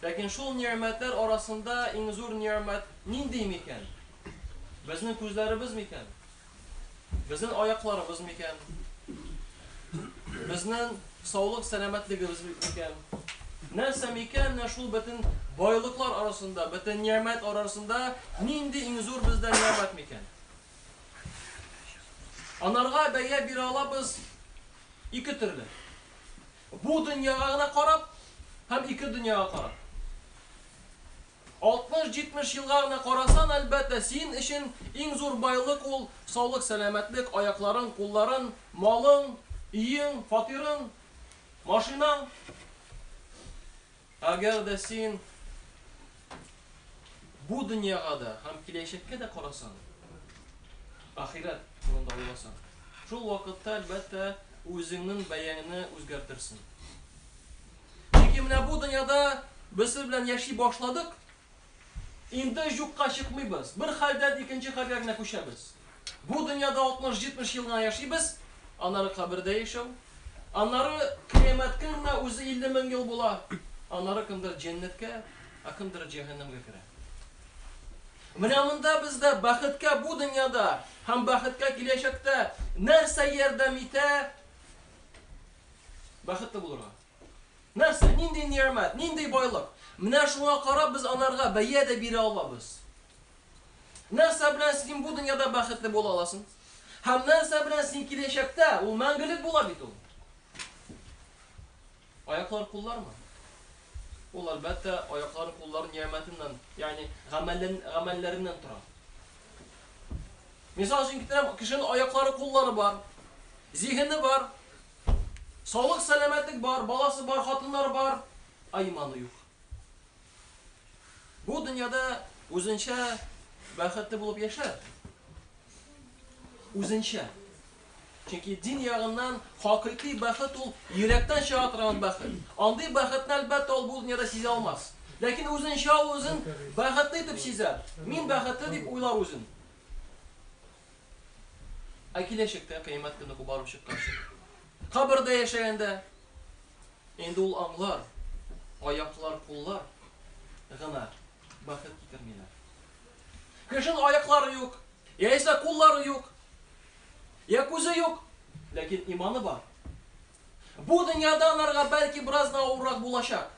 Ләкин шул нигъмәтләр арасында иң зур нигъмәт нинди микән? Безнең күзләребез микән? Безнең аякларыбыз микән? Безнең саулык сәламәтлегебез микән? Нәрсә микән, менә шул бөтен байлыклар арасында, бөтен нигъмәт арасында нинди иң зур бездә нигъмәт микән? Анарга бәя бирә алабыз ике төрле. Бу дөньяга гына карап һәм ике дөньяга карап. Алтмыш-җитмеш елга гына карасаң, әлбәттә, син өчен иң зур байлык ул, саулык-сәламәтлек, аякларың, кулларың, малың, өең, фатирың, машинаң. Әгәр дә син бу дөньяга да һәм киләчәккә дә карасаң, ахирәт турында уйласаң, шул вакытта, әлбәттә, үзеңнең бәяңне үзгәртерсең. Чөнки менә бу дөньяда без сез белән яши башладык, Инде юкка чыкмыйбыз, бер хәлдән икенче хәлгә генә күчәбез. Бу дөньяда алтмыш-җитмеш ел гына яшибез, аннары кабердә яшәү, аннары Кыямәт көненә үзе илле мең ел була, аннары кемдер җәннәткә, ә кемдер җәһәннәмгә керә. Менә монда бездә бәхеткә бу дөньяда һәм бәхеткә киләчәктә нәрсә ярдәм итә бәхетле булырга? Нәрсә, нинди нигъмәт, нинди байлык? Менә шуңа карап без анарга бәя дә бирә алабыз. Нәрсә белән син бу дөньяда бәхетле була аласың? Һәм нәрсә белән син киләчәктә, ул мәңгелек була бит ул. Аяклар, куллармы? Ул, әлбәттә, аяклар, куллар нигъмәтеннән, ягъни гамәлләреннән тора. Мисал өчен китерәм, кешенең аяклары, куллары бар, зиһене бар. Саулык сәламәтлек бар, баласы бар, хатыннары бар, ә иманы юк. Бу дөньяда үзенчә бәхетле булып яшәр. Үзенчә. Чөнки дин ягыннан хакыйкый бәхет ул йөрәктән чыга торган бәхет. Андый бәхетне әлбәттә ул бу дөньяда сизә алмас. Ләкин үзенчә ул үзен бәхетле итеп сизәр. Мин бәхетле дип уйлар үзен. Ә киләчәктә кыямәт көне барып чыкканчы, кабердә яшәгәндә, инде ул аңлар, аяклар, куллар гына бәхет китермиләр. Кешенең аяклары юк, яисә куллары юк, я күзе юк, ләкин иманы бар. Бу дөньяда анарга бәлки бераз да авыррак булачак.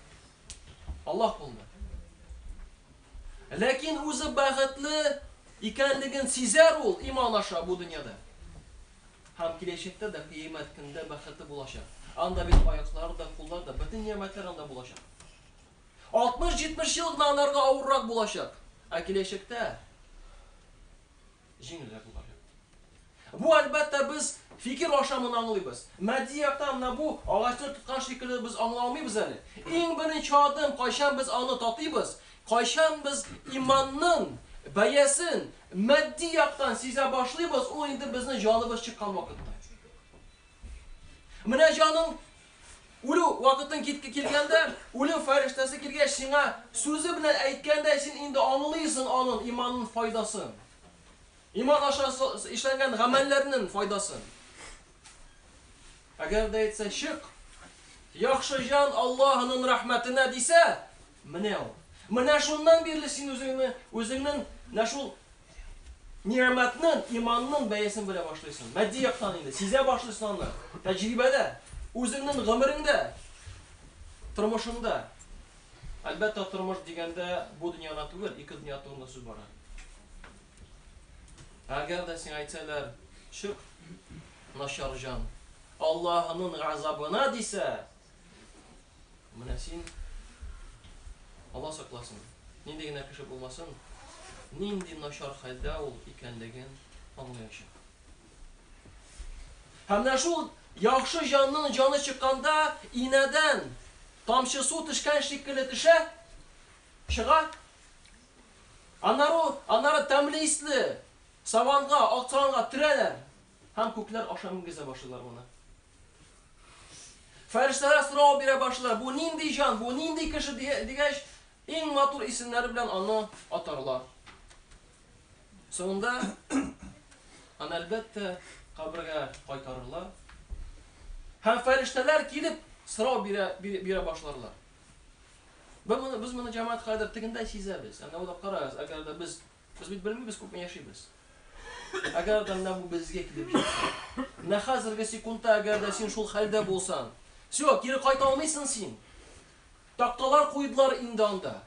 Аллаһ кулында. Ләкин үзе бәхетле икәнлеген сизәр ул иман аша бу дөньяда. Һәм киләчәктә дә кыямәт көндә бәхете булачак. Анда бит аяклар да, куллар да, бөтен нигъмәтләр анда булачак. 60-70 ел гына анарга авыррак булачак. Ә киләчәктә җиңелрәк булыр иде. Бу, әлбәттә, без фикер ашамын аңлыйбыз. Матди яктан менә бу агачны тоткан шикелле без аңлый алмыйбыз әле. Иң беренче адым, кайчан без аны татыйбыз, кайчан без иманның бәясен матди яктан сизә башлыйбыз, ул инде безнең җаныбыз чыккан вакытта. Менә җаның Үлү вакытың китке килгәндә, үлем фәрештәсе килгәч сиңа сүзе белән әйткәндәй син инде аңлыйсын анын иманын файдасын. Иман аша эшләнгән гамәлләрнен файдасын. Әгәр дә әйтсә, чык, яхшы җан Аллаһынын рәхмәтенә дисә, менә ул. Менә шуннан бирле син үзеңне, үзеңнен нә шул Нигъмәтнең, иманның бәясен белә башлыйсың. Матди яктан инде сизә башлыйсың аны. Тәҗрибәдә, үзеңнең гомереңдә, тормышыңда. Әлбәттә, тормыш дигәндә бу дөньяда түгел, ике дөнья турында сүз бара. Әгәр дә сиңа әйтсәләр, чык, начар җан, Аллаһының газабына дисә, Менә син, Алла сакласын, нинди генә кеше булмасын, нинди начар хәлдә ул икәнлеген аңлаячак. Һәм менә шул яхшы җанның җаны чыкканда инәдән тамчы су төшкән шикелле төшә, чыга. Аннары, аннары тәмле исле саванга, ак саванга төрәләр һәм күкләр аша менгезә башлыйлар моны. Фәрештәләр сорау бирә башлар, бу нинди җан, бу нинди кеше дигәч, иң матур исемнәре белән аны атарлар. Соңында аны әлбәттә кабергә кайтарырлар. Һәм фәрештәләр килеп сорау бирә, бирә башларлар. Без моны, без моны җәмәгать кадәр тегендә сизәбез. Әнә уйлап карагыз, әгәр дә без Без бит белмибез, күпме яшибез. Әгәр дә менә бу безгә килеп җитсә, менә хәзерге секундта әгәр дә син шул хәлдә булсаң, все, кире кайта алмыйсың син. Такталар куйдылар инде анда.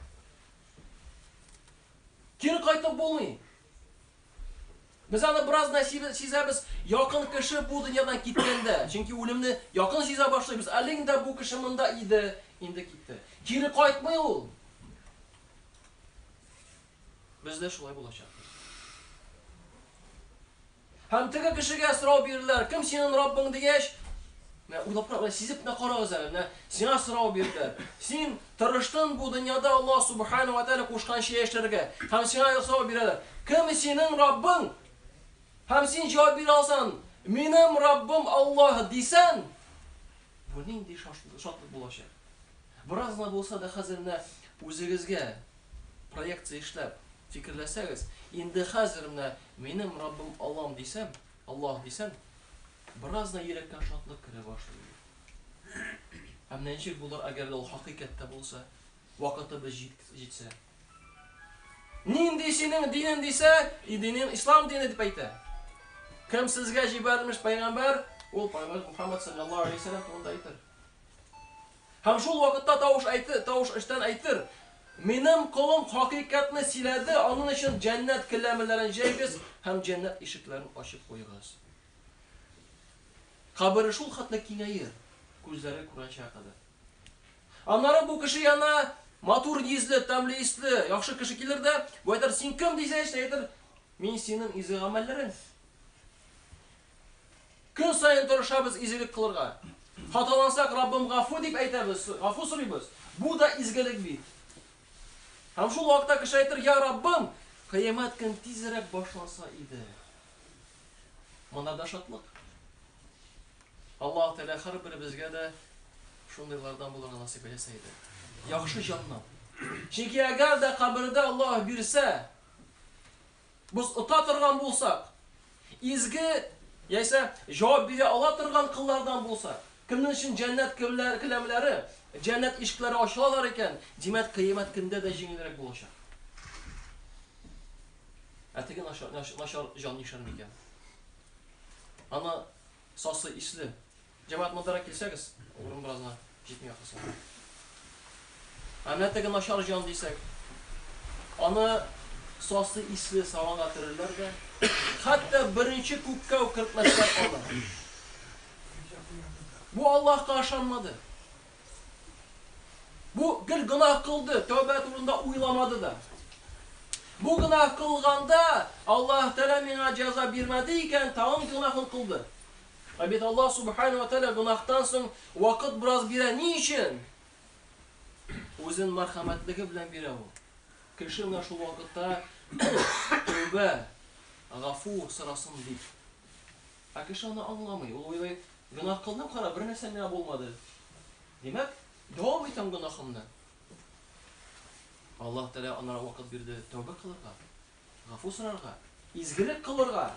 Кире кайтып булмый. Без аны бераз да сизәбез, якын кеше бу дөньядан киткәндә, чөнки үлемне якын сизә башлыйбыз. Әле инде бу кеше монда иде, инде китте. Кире кайтмый ул. Без дә шулай булачакбыз. Һәм теге кешегә сорау бирделәр, кем синең Раббың дигәч, Менә уйлап кара, менә сизеп менә карагыз әле, менә сиңа сорау бирделәр. Син тырыштың бу дөньяда Алла Субхану ва Тааля кушкан чәй эшләргә. Һәм сиңа сорау бирәләр. Кем синең Раббың? Һәм син җавап бирә алсаң, минем Раббым Аллаһ дисән, бу нинди шатлык булачак? Бераз гына булса да хәзер менә үзегезгә проекция эшләп, фикерләсәгез, инде хәзер менә минем Раббым Аллам дисәм, Аллаһ дисәм, бераз гына йөрәккә шатлык керә башлый бит. Ә менә ничек булыр, әгәр дә ул хакыйкать та булса, вакытыбыз җит, җитсә? Нинди синең динең дисә, и динең ислам дине дип әйтә. Кем сезгә җибәрелмеш пәйгамбәр, ул пәйгамбәр Мухаммад саллаллаһу алейһи ва сәлләм турында әйтер. Һәм шул вакытта тавыш әйтер, тавыш эчтән әйтер, Минем колым хакыйкатьне сөйләде, анын өчен җәннәт келәмеләрен җәйгез һәм җәннәт ишекләрен ачып куегыз. Кабере шул хәтле киңәер, күзләре күрәнчегә кадәр. Аннары бу кеше янына матур йөзле, тәмле исле, яхшы кеше килер дә, бу әйтер, Син кем? дисәч, әйтер, Мин синең изге гамәлләрең. Көн саен тырышабыз изелек кылырга. Хаталансак, Раббым, гафу дип әйтәбез, гафу сорыйбыз. Бу да изгелек бит. Һәм шул вакытта кеше әйтер, Я Раббым, Кыямәт көн тизрәк башланса иде. Монда да шатлык. Аллаһ Тәгалә һәрберебезгә дә шундыйлардан булырга насыйп әйтсә иде. Яхшы җаннар. Чөнки әгәр дә кабердә Аллаһ бирсә, Без ота торган булсак, изге яисә җавап бирә ала торган коллардан булсак, кемнең өчен җәннәт келәмнәре, җәннәт ишекләре ачылалар икән, димәк, кыямәт көндә дә җиңелрәк булачак. Ә теге начар җан нишләр микән? Аны сасы исле. Җәмәгать мондарак килсәгез, урын бераз гына җитми ахрысы. Ә менә теге начар җан дисәк, аны сасы исле саванга төрерләр дә, хәтта беренче күккә үк кертмәсләр аны. Бу Аллаһка ышанмады. Бу гел гына кылды, тәүбә турында уйламады да. Бу гына кылганда Аллаһ Тәгалә миңа җәза бирмәде икән, тагын гына кылды. Ә бит Аллаһ Сүбхәнә вә Тәгалә гөнаһтан соң вакыт бераз бирә. Ни өчен? Үзен мәрхәмәтлеге белән бирә Ул. Кеше менә шул вакытта тәүбә, гафу сорасын дип. Ә кеше аны аңламый. Ул уйлый, гөнаһ кылдым, кара, бернәрсә миңа булмады. Димәк, дәвам итәм гөнаһымны. Аллаһ Тәгалә аннары вакыт бирде тәүбә кылырга. Гафу сорарга, изгелек кылырга!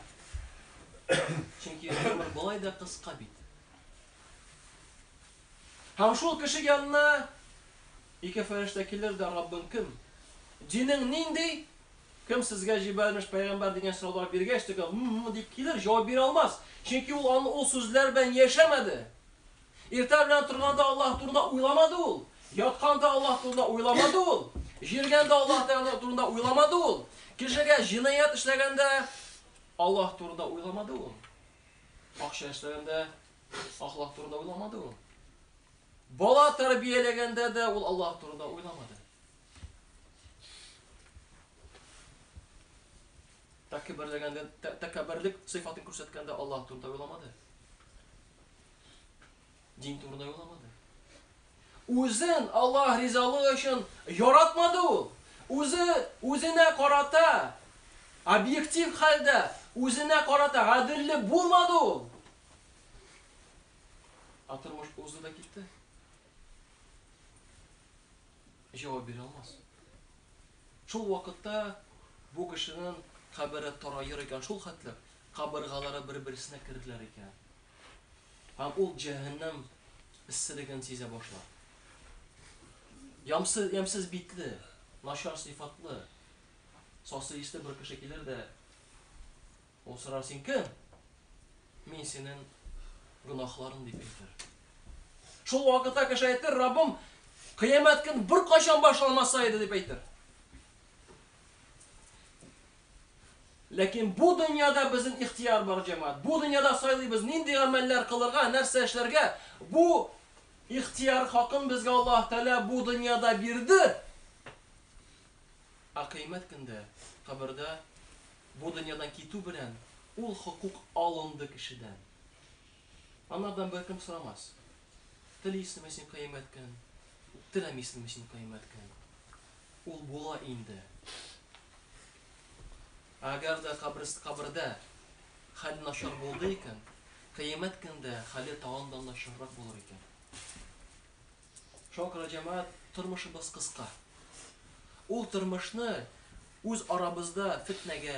Чөнки гомер болай да кыска бит. Һәм шул кеше янына ике фәрештә килер дә, Раббың кем? Динең нинди? Кем сезгә җибәрмеш пәйгамбәр дигән сораулар биргәч, тегә м-м дип килер, җавап бирә алмас. Чөнки ул аны ул сүзләр белән яшәмәде. Иртә белән торганда Аллаһ турында уйламады ул, ятканда Аллаһ турында уйламады ул, җиргәндә Аллаһ Тәгалә турында уйламады ул, кешегә җинаять эшләгәндә Аллаһ турында уйламады ул, акча эшләгәндә Аллаһ турында уйламады ул, бала тәрбияләгәндә дә ул Аллаһ турында уйламады. Тәкәбберлегәндә тәкәбберлек сыйфатын күрсәткәндә Аллаһ турында уйламады. Дин турында уйламады. Үзен Аллаһ ризалыгы өчен яратмады ул. Үзе үзенә карата объектив хәлдә үзенә карата гаделле булмады ул. Ә тормыш узды да китте. Җавап бирә алмас. Шул вакытта бу кешенең кабере тараер икән шул хәтле, кабыргалары бер-берсенә керделәр икән. Һәм ул җәһәннәм эсселеген сизә башлар. Ямсыз, ямсыз битле, начар сыйфатлы, сасы исле бер кеше килер дә, ул сорар, син кем? Мин синең гөнаһларын дип әйтер. Шул вакытта кеше әйтер, Раббым, кыямәт көн бер кайчан башланмаса иде дип әйтер. Ләкин бу дөньяда безнең ихтыяр бар, җәмәгать. Бу дөньяда сайлыйбыз, нинди гамәлләр кылырга, нәрсә эшләргә. Бу ихтыяр хакын безгә Аллаһ Тәгалә бу дөньяда бирде. Ә кыямәт көндә, кабердә бу дөньядан китү белән ул хокук алынды кешедән. Анардан беркем сорамас. Телисеңме син кыямәткән, теләмисеңме син кыямәткән. Ул була инде. Әгәр дә каберс кабердә хәл начар булды икән, кыямәт көндә хәле тагын да начаррак булыр икән. Шуңа күрә, җәмәгать, тормышыбыз кыска. Ул тормышны үз арабызда фетнәгә,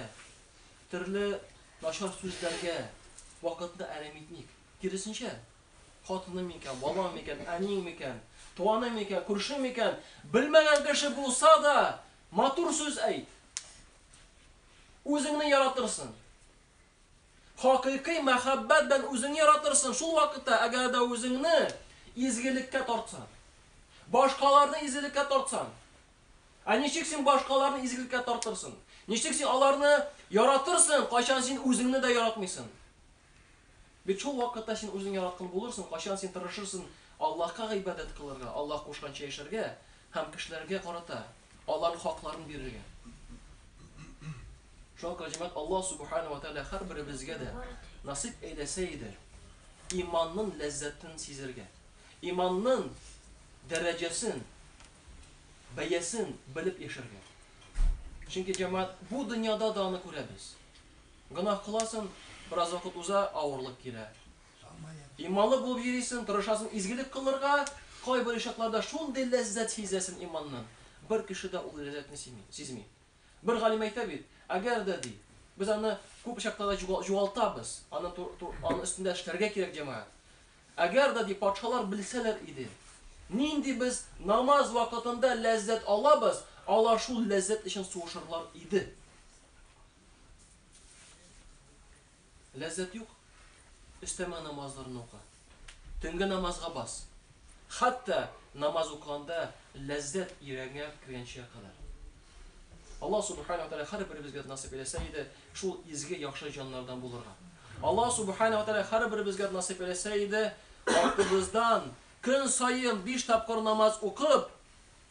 төрле начар сүзләргә вакытны әрәм итмик. Киресенчә, хатыным микән, балам микән, әниең микән, туганың микән, күршең микән, белмәгән кеше булса да, матур сүз әйт. Үзеңне яратырсың. Хакыйкый мәхәббәт белән үзеңне яратырсың, шул вакытта, әгәр дә үзеңне изгелеккә тартсаң, башкаларны изгелеккә тартсаң. Ә ничек син башкаларны изгелеккә тартырсың? Ничек син аларны яратырсың, кайчан син үзеңне дә яратмыйсың? Бит шул вакытта син үзең яраткн булырсың, кайчан син тырышырсн Аллаһка гыйбадәт кылырга, Аллаһ кушканча яшәргә һәм кешеләргә карата аларн хакларын бирергә. Шуңа күрә, җәмәгать, Аллаһ Субхана вә Тәгалә һәрберебезгә дә насыйп әйләсә иде, иманнын ләззәтен сизергә, иманнын дәрәҗәсен, бәясен белеп яшәргә. Чөнки, җәмәгать, бу дөньяда да аны күрәбез. Гөнаһ кыласың, бераз вакыт уза, авырлык килә. Иманлы булып йөрисең, тырышасың изгелек кылырга, кайбер очракларда шундый ләззәт сизәсең иманның, бер кеше дә ул ләззәтне сизми. Бер галим әйтә бит, әгәр дә, ди, без аны күп очракта да югалтабыз, аны аны өстендә эшләргә кирәк, җәмәгать. Әгәр дә, ди, патшалар белсәләр иде, нинди без намаз вакытында ләззәт алабыз, алар шул ләззәт өчен сугышырлар иде. Ләззәт юк, өстәмә намазларны ука. Төнге намазга бас. Хәтта намаз укыганда ләззәт йөрәгеңә кергәнчә кадәр. Аллаһ субхана ва тааля һәрберебезгә насыйп иләсә иде шул изге яхшы җаннардан булырга. Аллаһ субхана ва тааля һәрберебезгә насыйп иләсә иде артыбыздан көн саен биш тапкыр намаз укып,